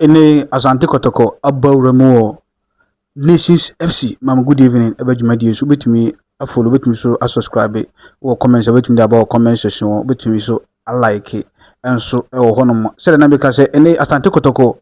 Ɛnɛ yi, Asante Kɔtɔkɔ abɔ awura mu wɔ Nations FC Maame Good Evening ɛbɛ dwumadie so wobɛtumi afollow wobɛtumi so asubscribe wɔ comment sɛ wobɛtumi de aba wɔ comment section hɔ wobɛtumi so alike nso ɛwɔ hɔnom sɛdeɛ na meka sɛ ɛnɛ Asante Kɔtɔkɔ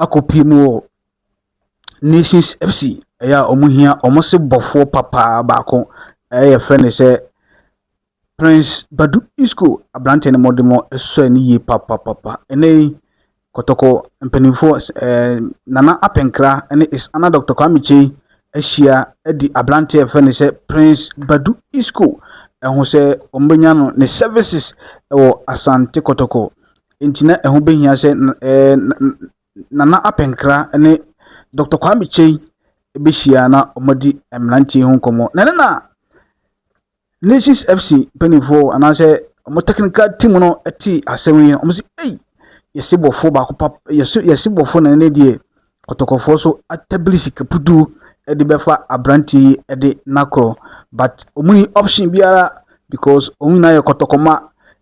akɔpie mu wɔ Nations FC ɛyɛ a wɔn hia wɔn se bɔfoɔ papaa baako ɛyɛ fɛ ne sɛ Prince Badu Isco aberanteɛ no mmɔdemmɔ sɔe no yie papapapa. Ɛnnɛ yi, Kɔtɔkɔ mpanimfoɔ, ɛɛ Nana Apɛnkra ne His Honor Dr. Kwame Kyei ahyia di aberanteɛ a yɛfrɛ no sɛ Prince Badu Isco ɛho sɛ wɔbɛnya no ne services wɔ Asante Kɔtɔkɔ. Nti na ɛho bɛhia sɛ ɛɛ Nana Apɛnkra ne Dr. Kwame Kyei bɛhyia na wɔadi mmeranteɛ ho nkɔmmɔ. Na ɛno na Lynxes FC mpanimfoɔ anaasɛ wɔn technical team no te asɛm yi wɔn sɛ ei yɛsi bɔfoɔ baako pap yɛsi yɛsi bɔfoɔ na ɛne deɛ kɔtɔkɔfoɔ so atabili sika pudu de bɛfa aberanteɛ yi de n'akorɔ but wɔn ni option biara because wɔn nyinaa yɛ kɔtɔkɔma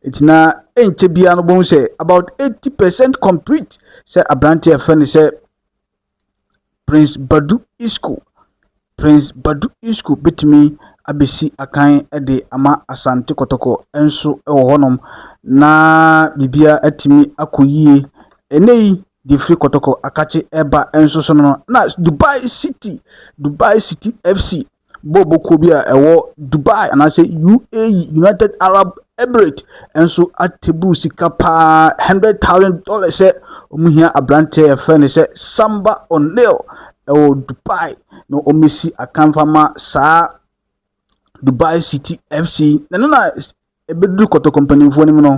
nti na ɛnkyɛ biara no bɛhu sɛ about eighty percent complete sɛ aberanteɛ fɛ ne sɛ Prince Badu Isco, Prince Badu Isco bɛtumi abɛsi akan de ama Asante Kɔtɔkɔ nso wɔ hɔnom na biribiara atumi akɔ yie. Ɛnɛ yi, deɛ firi Kɔtɔkɔ akakye ɛba nso so no na Dubai City, Dubai City FC Bɔɔlbɔ kuo bi a ɛwɔ Dubai anaasɛ UAE, United Arab Emirates nso atable sika paa, hundred thousand dollars sɛ wɔn hia aberanteɛ a yɛfrɛ no sɛ Samba O'Neal ɛwɔ Dubai na wɔmmɛsi akan fama saa Dubai City FC. Na ɛno na Ɛbɛduru kɔtɔkɔ mpanimfoɔ no mu no,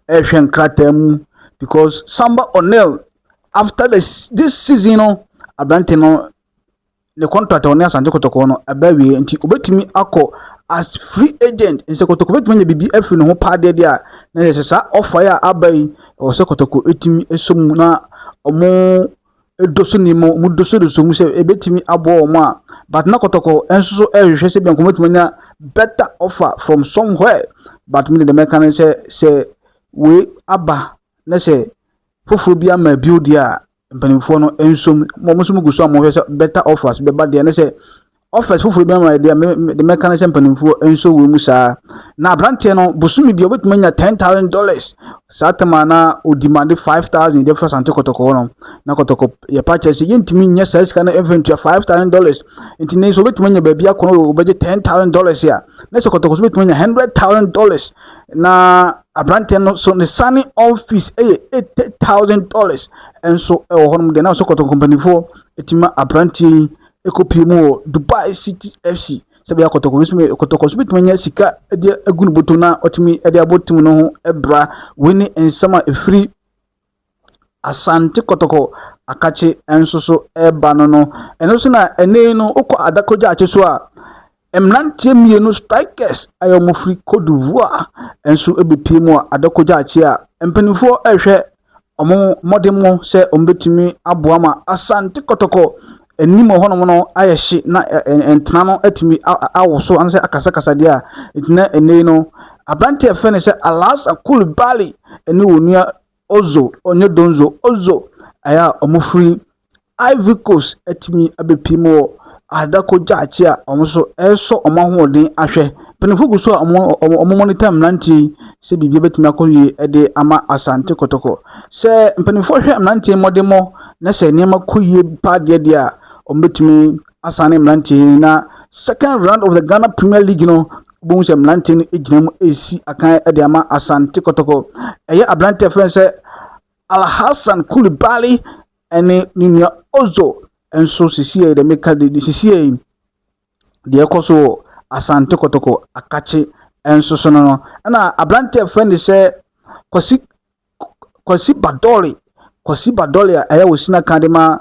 wɔrehwɛ nkrataa mu because Samba O'Neal after the this season no aberante no ne contract a ɔne Asante Kɔtɔkɔ no ɛbɛ awie nti obetumi akɔ as free agent nsɛ Kɔtɔkɔ betumi anya biribi afiri ne ho paa deɛ deɛ a na yɛ sɛ saa ɔfa yi a aba yi ɛwɔ sɛ Kɔtɔkɔ etumi ɛsɔ mu na wɔn dɔ so nni mu, wɔdɔ so dɔ so mu sɛ ɛbɛtumi aboa wɔn a, but na kɔtɔkɔ nso so ɛrehwehwɛ sɛ bianko wɔbɛtumi anya better offer from somewhere. But me de deɛ mɛka ne sɛ sɛ wei aba na sɛ foforɔ bi ama bio deɛ a mpanimfoɔ no nsom mo nso mo gu so a mohwɛ sɛ better offers bɛba deɛ ne sɛ Office foforɔ bi ama yɛ deɛ me de mɛka ne sɛ mpanimfoɔ nso wɔ mu saa na aberanteɛ no bosome bia wobɛtumi anya ten thousand dollars saa tam a na ɔdimande five thousand de fira sante kɔtɔkɔ hɔ no na kɔtɔkɔ yɛpa kyerɛ sɛ yɛntumi nyɛ saa sika no mfa ntua five thousand dollars nti ne nso wobɛtumi anya baabi akɔ no wobɛgye ten thousand dollars a na sɛ kɔtɔkɔ so wobɛtumi anya hundred thousand dollars na aberanteɛ no so ne sane office yɛ eighty thousand dollars nso wɔ hɔnom deɛ na sɛ kɔtɔkɔ mpanimfoɔ ɛtumi ma aberanteɛ yi ɛkɔpie mu wɔ Dubai City FC sɛdeɛ kɔtɔkɔ nso bɛ kɔtɔkɔ nso bɛtumi anya sika de agu ne bɔtɔ na ɔtumi de abɔ tim no ho bra wei ne nsɛm a ɛfiri asante kɔtɔkɔ akakye nso so ɛreba no no ɛno nso na ɛnɛ no wokɔ adakɔgya akye so a Mmeranteɛ mmienu, strikers, a wɔfiri Cote d'Ivoire nso bɛpue mu a ada kɔgya akyi a mpanimfoɔ rehwɛ wɔn mmɔdemmɔ sɛ wɔbɛtumi aboa ma Asante Kɔtɔkɔ anim wɔ hɔnom no ayɛ hye na ntena no atumi awoso anaasɛ akasakasa deɛ a, nti na ɛnɛ yi no aberanteɛ a yɛfrɛ no sɛ Alassane Coulibaly ne wɔn nua Ozo, ɔnyɛ Donzo, Ozo a wɔfiri Ivory Coast atumi abɛpue mu wɔ Adako Gyakye a wɔn nso resɔ wɔn ahoɔden ahwɛ. Mpanimfoɔ gu so a wɔn wɔn monitor mmeranteɛ yi sɛ biribiara bɛtumi akɔ yie de ama Asante Kotoko. Sɛ mpanimfoɔ hwɛ mmeranteɛ mmɔdemmɔ na sɛ nneɛma kɔ yie paa deɛ deɛ a, wɔbɛtumi asane mmeranteɛ yi na second round of the Ghana Premier League no Wobɛhu sɛ mmeranteɛ no gyina mu resi akan de ama Asante Kɔtɔkɔ. Ɛyɛ aberanteɛ frɛ sɛ Alhassan Koulibaly ne ne nua Ozo nso sisiei de meka de de sisiei deɛ ɛkɔ so wɔ Asante Kɔtɔkɔ akakye nso so no no. Ɛna aberanteɛ frɛ ne sɛ Kwasi Kwasi Badore Kwasi Badore a ɛyɛ Osina ka de ma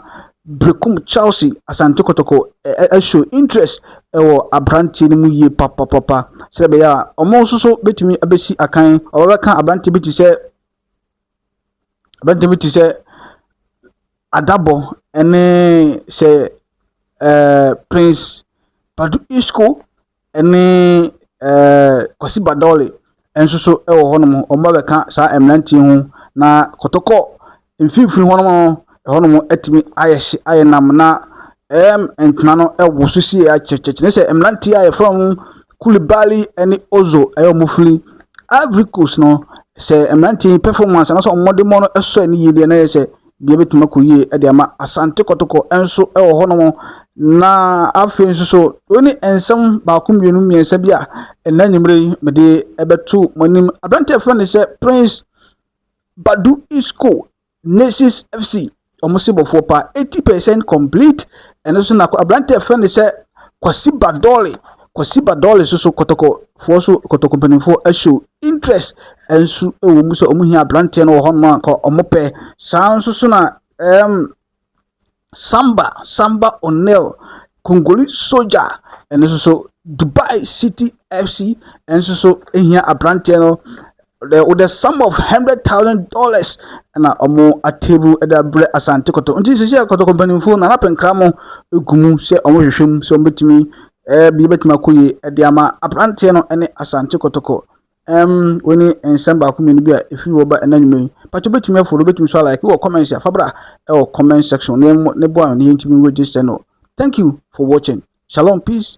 Berekum Chelsea Asante Kotoko show interest wɔ aberanteɛ no mu yie papapapa sɛ ɛbɛyɛ a wɔn nso so bɛtumi abɛsi akan wɔbɛka aberanteɛ bi te sɛ aberanteɛ bi te sɛ Adabɔ ne sɛ ɛɛ Prince Badu Isco ne ɛɛ Kwasi Badɔle nso so wɔ hɔnom. Wɔbɛka saa mmeranteɛ ho. Na kɔtɔkɔ mfimfini hɔnom no, ɛhɔnom atumi ayɛ hye ayɛ nnam, na ɛɛm ntena no awoso sie akyɛkyɛ. Kyerɛ sɛ mmeranteɛ a wɔfrɛ wɔn Koulibaly ne Ozo a wɔfiri Ivory Coast no, sɛ mmeranteɛ yi performance anaasɛ wɔn mmɔdemmɔ no sɔ ani yie deɛ na kyerɛ sɛ . Deɛ ɛbɛtumi akɔ yie de ama Asante Kɔtɔkɔ nso wɔ hɔnom. Na afei nso so, wei ne nsɛm baako mmienu mmiɛnsa bi a ɛnna anwummerɛ yi mede ɛbɛto mo anim. Aberanteɛ fɛ ne sɛ Prince Badu Isco Nations FC wɔn se bɔfoɔ paa eighty percent complete ɛno so na aberanteɛ fɛ ne sɛ Kwasi Badɔle Kwasi ba Dolly so so kɔtɔkɔ foɔ so kɔtɔkɔ mpanimfoɔ show interest nso wɔ mu sɛ wɔn hia aberanteɛ no wɔ hɔnom a nka wɔn pɛ saa nso so na ɛɛm samba samba onel kongoli soja ɛno nso so dubai city fc nso so hia aberanteɛ no the with the sum of hundred thousand dollars na ɔmo atable de abrɛ asante kɔtɔ nti sisi a kɔtɔ kɔmpanimfoɔ na anapɛ nkra mo egu mu sɛ ɔmo hwehwɛ mu sɛ ɔmo betumi ɛɛ eh, bi betumi akɔ yie ɛde ama aberanteɛ no ɛne asante kɔtɔkɔ ɛm wɔn ni nsɛm baako mmienu bi a efiri wɔ ba ɛna nnwuma yi pati betumi afɔ do betumi so ala ɛki wɔ comments afabra ɛwɔ comment section ne ne bɔ a ne yɛn ti mi register no thank you for watching shalom peace.